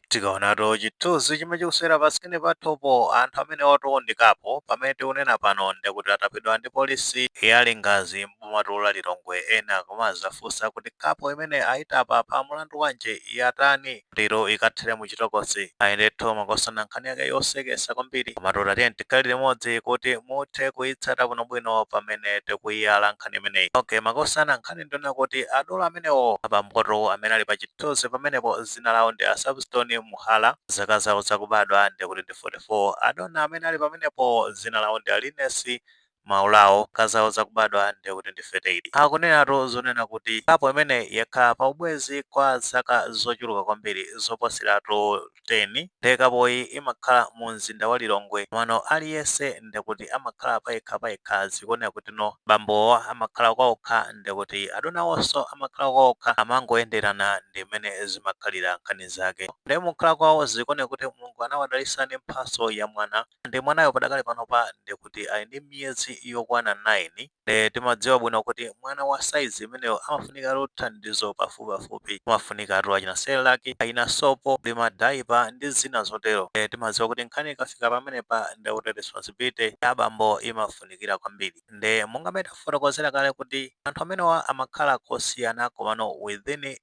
tikaonato chithunzi chimene chikusewera pasikini pathupo anthu amene oti ndi kapo pamene tikunena pano ndikuti atapidwa ndi polisi ya lingadzi m'bomatu la lilongwe ena kumazafunsa kuti kapo imene ayitapa pa mulandu wanji yatani lero ikathere mu chitokosi ayi ndetu makosana nkhani yake yosekesa kwambiri komatu tatiyeni tikhale limodzi kuti muthe kuyitsata bwinobwino pamene tikuyiyala nkhani imeneyi okay makosana nkhani ndiyonena kuti adolo amenewo abambotu amene ali pa chithunzi pamenepo zina lawo ndi a Savistone Muhala zaka zawo zakubadwa ndekuti ndi 44, adona amene ali pamenepowo zina lawo ndi a Liness Maulawo zaka zawo zakubadwa ndekuti ndi 38. Akunenatu zonena kuti kapo imeneyi yakhala pa ubwenzi kwa zaka zochuluka kwambiri zoposeratu 10. Nde kapoyi imakhala mu mzinda wa Lilongwe komano aliyense ndekuti amakhala payekha payekha zikuoneka kutino abambowa amakhala kwaokha ndekuti adonawonso amakhala kwaokha amangoyenderana ndimene zimakhalira nkhani zake nde mukukhala kwawo zikuoneka kuti Mulungu anawadalisa ndi mphaso ya mwana nde mwanayo padakali panopa ndekuti ali ndi miyezi yokwana 9 Ndiye timadziwa bwino kuti mwana wa size imeneyo amafunikatu thandizo pafupipafupi. Amafunikatu achina cerelac, achina sopo, ndi ma diaper ndi zina zotero. Ndiye timadziwa kuti nkhani ikafika pamenepa ndiye kuti responsibility ya abambo imafunikira kwambiri. Ndiye monga mmene tafotokozera kale kuti anthu amenewa amakhala kosiyana komano within.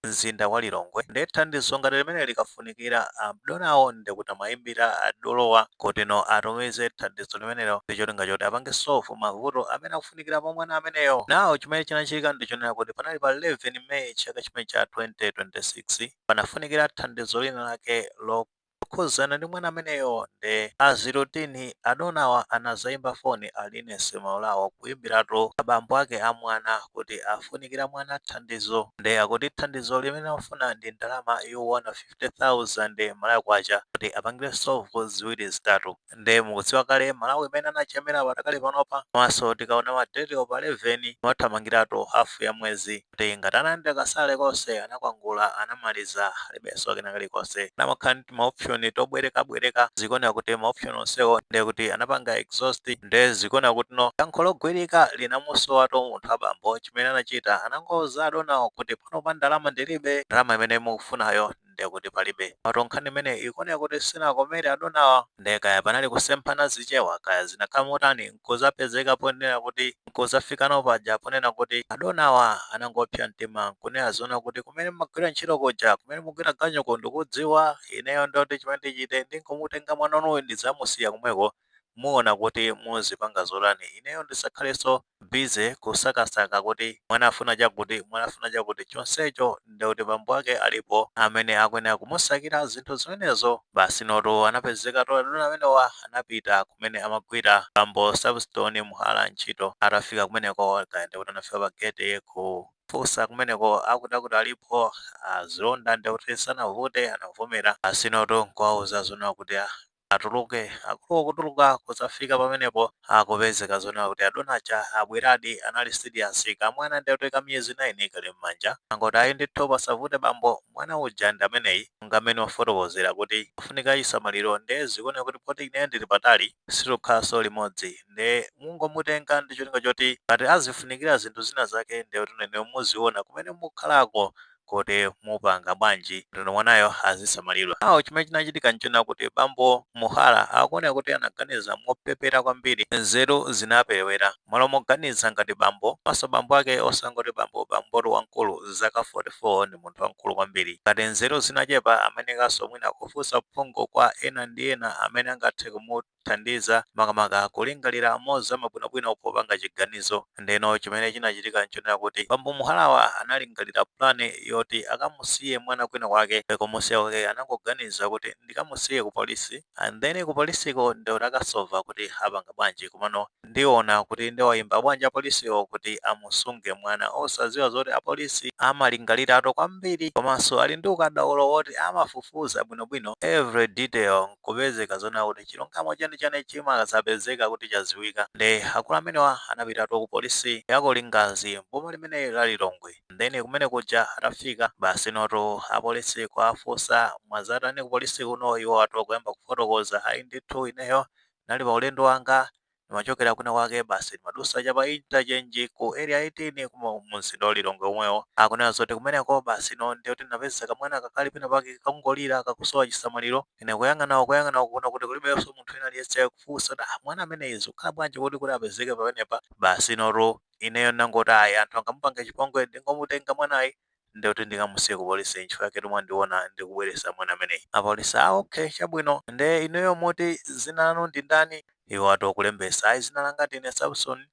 mzinda wa Lilongwe nde thandizo ngati limeneli likafunikira adonawo ndekuti amayimbira adolowa kutino atumize thandizo limenelo ndicholinga choti apange solve mavuto amene akufunikira pa mwana ameneyo. Now chimene chinachitika ndichonena kuti panali pa 11 May chaka chimene cha 2026 panafunikira thandizo lina lake lo Lokhuzana ndi mwana ameneyo nde as routine adonawa anazaimba foni a Liness Maulawa kuimbilatu abambo ake a mwana kuti afunikira mwana thandizo nde akuti thandizo limene amafuna ndi ndalama yokwana 50,000 Malawi Kwacha kuti apangire solve ziwiri zitatu nde mukudziwa kale malawi mmene anajamila padakali panopa komanso tikaona ma date wo pa 11 wathamangilatu half ya mwezi kuti ngati analandila ka salary konse anakwangula anamaliza alibenso kena kalikonse amakhala ndi tima option tobweleka bweleka zikuoneka kuti ma option onsewo nde kuti anapanga exhaust nde zikuoneka kutino yankho logwilika linamusowatu munthu abambo chimene anachita anangouza adonawo kuti panopa ndalama ndilibe ndalama imene mukufunayo ndiye kuti palibe. Komatu nkhani imeneyi ikuoneka kuti sinakomere adonawa ndiye kaya panali kusemphana zichewa kaya zinakhala motani n'kudzapezeka ponena kuti n'kudzafikano paja ponena kuti adonawa anangopsa mtima n'kunena zonena kuti, Kumene mumagwira ntchito kuja, kumene mukugwira ganyuku ndikudziwa, ineyo ndoti chimene ndichite ndingomutenga mwana wanuyu ndidzamusiya komweko, muona kuti muzipanga zotani, ineyo ndisakhalenso. busy kusakasaka kuti mwana afuna chakuti, mwana afuna chakuti chonsecho nde kuti bambo ake alipo amene akuyenera kumusakira zinthu zimenezo basi notu anapezekatu adona amenewa anapita kumene amagwira bambo Savistoni Muhala ntchito atafika kumeneko kaya ndekuti anafika pa gate kufunsa kumeneko akuti akuti alipo azilonda ndekuti sanavute anavomera basi notu nkuwauza zoona kuti ah atuluke. Akuluwo kutuluka kudzafika pamenepo akupezeka zonena kuti adona aja abweradi anali serious kamwana nde kuti ka miyezi 9 kali mmanja angoti ayi ndithu pasavute bambo mwana uja ndi ameneyi monga mmene wafotokozera kuti afunika chisamaliro nde zikuoneka kuti poti ineyo ndili patali sitikukhalanso limodzi nde mungomutenga ndi cholinga choti ngati azifunikira zinthu zina zake nde kuti inuyo muziona kumene mukukhalako kuti mupanga bwanji kuti mwanayo azisamalidwa. Now chimene chinachitika nchonena kuti bambo Muhala akuoneka kuti anaganiza mopepera kwambiri, nzeru zinaperewera. Mmalo moganiza ngati bambo, komanso bambo ake osangoti bambo, bambotu wamkulu zaka 44 ndi munthu wamkulu kwambiri. Ngati nzeru zinachepa amayenekanso mwina kufunsa uphungu kwa ena ndi ena amene angathe kumut. kumuthandiza makamaka kulingalira mozama bwinobwino popanga chiganizo. Ndeno chimene chinachitika n'chonena kuti bambo Muhalawa analingalira pulani yoti akamusiye mwana kwinakwake. Kumusiya kwake anangoganiza kuti, Ndikamusiye kupolisi, and then kupolisiko ndiye kuti akasova kuti apanga bwanji. Komano ndiona kuti ndiwaimba bwanji apolisiwo kuti amusunge mwana, osadziwa zoti apolisi amalingaliratu kwambiri komanso ali ndi ukadaulo woti amafufuza bwinobwino every detail. kupezeka zonena kuti chilungamo cheni cheni chimazapezeka kuti chaziwika nde akulu amenewa anapitatu ku police ya ku Lingadzi m'boma limeneli la Lilongwe ndeno kumene kuja atafika basi notu a police kuwafunsa mwazatani ku police kuno iwowatu kuyamba kufotokoza ayi ndithu ineyo ndinali pa ulendo wanga ndimachokera kwina kwake basi ndimadusa cha pa interchange ku area 18 kuma mumzinda wa lilongwe omwewo akunena zoti kumeneko basi notu nde kuti ndinapeza kamwana kakali pena pake kakungolira kakusowa chisamaliro ine kuyang'ana uko kuyang'ana uko kuona kuti kulibenso munthu wina aliyense kufunsa kuti "Ah, mwana ameneyi zikukhala bwanji kuti kuti apezeke pamenepa basi notu ineyo ndinangoti ayi anthu angamupanga chipongwe ndingomutenga mwanayi nde kuti ndikamusiye ku police nchifukwa yaketu mwandiona ndikubweresa mwana ameneyi. Apolice, ah ok chabwino. Nde inuyo muti zina lanu ndi ndani? Iwo atu kulembesa, ayi zina langa ndine Sapson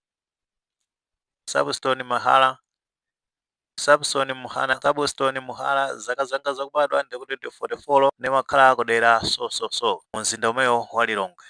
Sapstone Mahala Sapson Mhana Sapstone Muhala zaka zanga zakubadwa ndikuti ndi fote folo ndimakhala kudera so so so mu mzinda omwewu wa Lilongwe.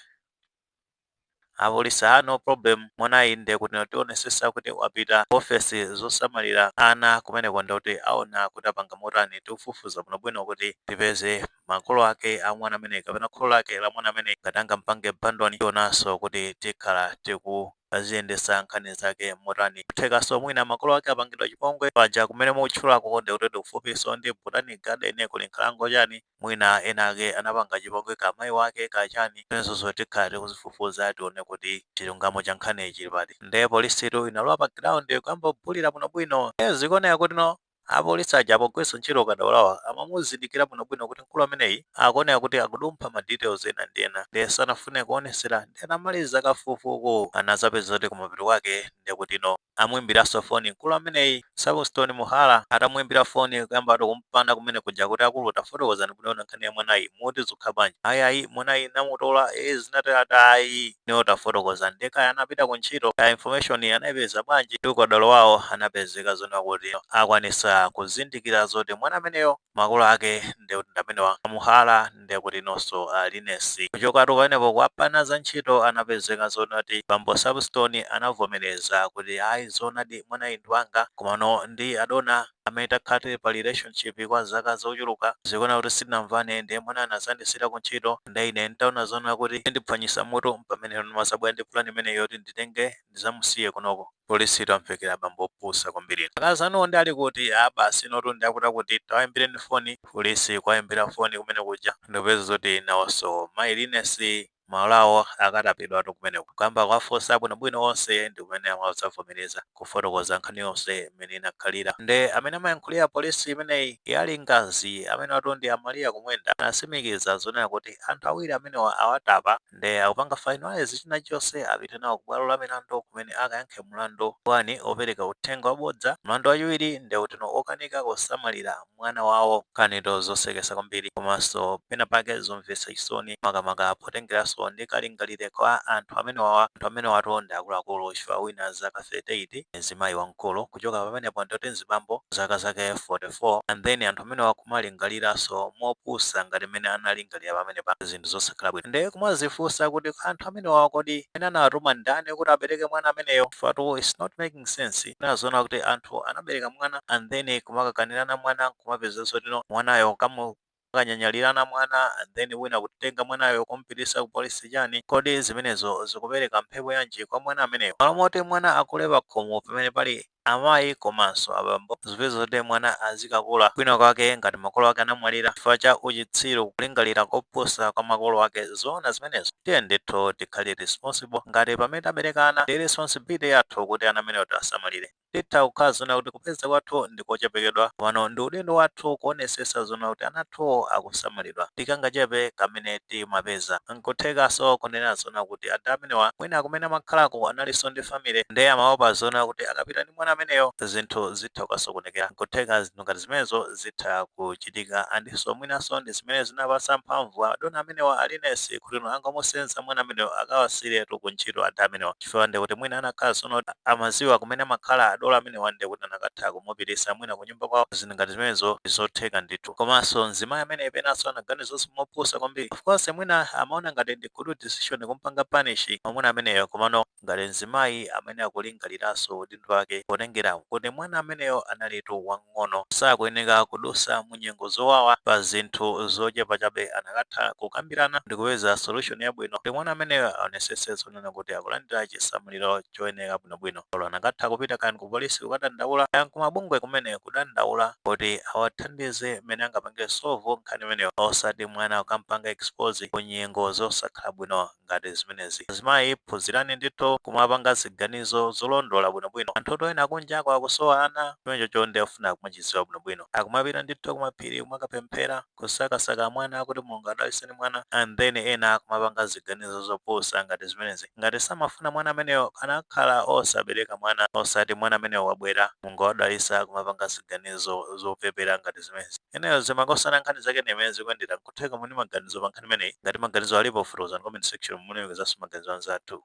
Apolisi ah no problem mwanayi nde kuti tionesesa kuti wapita ku ofesi zosamalira ana kumeneko nde kuti aona kuti apanga motani tifufuza bwino bwino kuti tipeze makolo ake a mwana ameneyi kapena kholo lake la mwana ameneyi ngati anangomupanga abandon tionaso kuti tikhala tikuziyendesa nkhani zake motani kuthekaso mwina makolo ake apangidwa chipongwe paja kumene mukutchulako nde kuti ndikufupiso ndi botanic garden kuli nkhalango chani Mwina enaake anapanga chipongwe kaya mayi wake kaya chani zimenezozo tikhala tikuzifufuza tione kuti chilungamo cha nkhaniyi chili pati nde polisitu inalowa pa ground kuyamba kubulira bwinobwino nde zikuoneka kuti no apolisi aja pogwiritsa ntchito ukadaulowa amamuzindikira bwinobwino kuti mkulu ameneyi akuoneka kuti akudumpha ma details ena ndi ena nde sanafune kuonesera nde atamaliza kafufuku anazapeza kuti kumapeto kwake ndekuti no anamuimbilaso foni nkulu ameneyi Substone Muhala atamuimbila foni kuyambatu kumpana kumene kuja kuti akulu tafotokozani bwinobwino nkhani ya mwanayi muti zukha bwanji ayi ayi mwanayi namutola ee zinatela tayi inuyo tafotokozani ndiye kaya anapita ku ntchito kaya information anaipeza bwanji ndi ukadaulo wawo anapezeka zona kuti akwanisa kuzindikila zoti mwana ameneyo makolo ake ndekuti ndamenewa Muhala ndekuti inunso a Liness kuchokatu pamenepo kuapana za ntchito anapezeka zoti bambo Substone anavomereza kuti ayi zoonadi mwanayi ndi wanga komano ndi adona amene takhala tili pa relationship kwa zaka zochuluka zikuoneka kuti sitinamvane ndiye mwanayo anazandisiira kuntchito ndiye ine ntaona zoona kuti indiphwanyisa mutu mpamene ndimazabwera ndi plan imeneyi yoti nditenge ndizamusiye kunoko. Polisitu imvekere abambo opusa kwambiri inu. Akazi anuwo nde ali kuti? Aaa basi iwotu ndi akutiakuti tawayimbireni foni. Polisi kuwayimbira foni kumene kuja ndikupeza zoti nawonso mayi Liness malo awo akatapidwatu kumeneko. Kuyamba kuwafunsa bwinobwino onse ndi kumene amadzavomereza kufotokoza nkhani yonse mmene inakhalira. Nde amene amayankhulira polisi imeneyi ya Lingadzi amenewatu ndi a Maria Kumwenda anasimikiza zonena kuti anthu awiri amenewa awatapa. nde akupanga finalise chinachose apite nawo ku bwalo la milandu kumene akayankhe mulandu 1 opereka uthenga wabodza, mulandu wachiwiri nde utino okanika kusamalira mwana wawo. Nkhanitu zosekesa kwambiri komaso pena pake zomvesa chisoni makamaka potengeraso ndi kalingaliridwe kwa anthu amenewawa, anthu amenewatu ndi akuluakulu chifukwa wina zaka 38 ndi mzimayi wamkulu. kuchoka pamenepo ndi uti mzibambo zaka zake 44 and then anthu amenewa akumalingaliranso mopusa ngati mmene analingalira pamenepa zinthu zosakhala bwino nde kumazifunsa kuti anthu amenewawa kodi amene anawatuma ndani kuti abereke mwana ameneyo chifukwa-tu its not making sense kunena zoona kuti anthu anabereka mwana and then kumakakanirana mwana nkumapeza zoti no mwanayo kamu Akanyanyalirana mwana and then wina kukatenga mwanayo kumupitisa ku police chani? Kodi zimenezo zikupereka mphepo yanji kwa mwana ameneyo? Malo moti mwana akule pakhomo pamene pali amayi komanso abambo zipezeke zoti mwana azikakula kwina kwake ngati makolo ake anamwalira chifukwa cha uchitsiru, kulingalira kopusa kwa makolo ake. Zoona zimenezo? Tiyeni ndithu tikhale responsible ngati pamene tabereka ana ndi responsibility yathu kuti ana amenewa tiwasamalire. Titha kukhala zoona kuti kupeza kwathu ndi kochepekedwa, komano ndi udindo wathu kuonesesa zoona kuti ana athuwo akusamalidwa ndi kangachepe kamene timapeza. Nkuthekaso kunena zoona kuti ada amenewa mwina kumene amakhalako analiso ndi family nde amaopa zoona kuti akapita ndi mwana ameneyo zinthu zitha kukasokonekera. Nkutheka zinthu ngati zimenezo zitha kuchitika andinso mwinaso ndi zimene zinapasa mphamvu a dona amenewa a Linesi kuti no angomusenza mwana ameneyo akawasiyiretu ku ntchito ada amenewa. chifukwa ndekuti mwina anakakhala zoona zoti amaziwa kumene amakhala adolo amenewa ndekuti anakatha kumupitisa mwina kunyumba kwawo zinthu ngati zimenezo ndizotheka ndithu komanso mzimayi ameneyu penaso anaganizaso mopusa kwambiri of course mwina amaona ngati ndi good decision kumpanga punish mwamuna ameneyo komano ngati mzimayi amene akulingaliranso udindo wake potengera kuti mwana ameneyo analitu wang'ono sakuyeneka kudusa munyengo zowawa pa zinthu zochepa chabe anakatha kukambirana ndikupeza solution yabwino kuti mwana ameneyo aonesese kunena kuti akulandira chisamliro choyenera bwinobwino. Olo anakatha kupita kaya ndikupolisi kukadandaula, kaya nkumabungwe kumene kukadandaula kuti awathandize mmene angapange solve nkhani imeneyo osati mwana kukampanga expose ku nyengo zosakhala bwino ngati zimenezi. Azimayi phunzirani ndithu kumapanga ziganizo zolondola bwinobwino. Anthutu ena kunjako akusowa ana, chimenechocho nde chofunika kumachidziwa bwinobwino. Akumapita ndithu kumaphiri kumakapemphera. kusakasaka mwana kuti mulungu adaliseni mwana and then ena akumapanga ziganizo zopusa ngati zimenezi ngati samafuna mwana ameneyo anakakhala osabereka mwana osati mwana ameneyo wabwera mulungu wadalisa kumapanga ziganizo zopepera ngati zimenezi anyway makosana nkhani zake ndimene zikuyendera nkutheka muli ndi maganizo pa nkhani imeneyi ngati maganizo alipo fotokozani comment section mulemekezenso maganizo anzathu.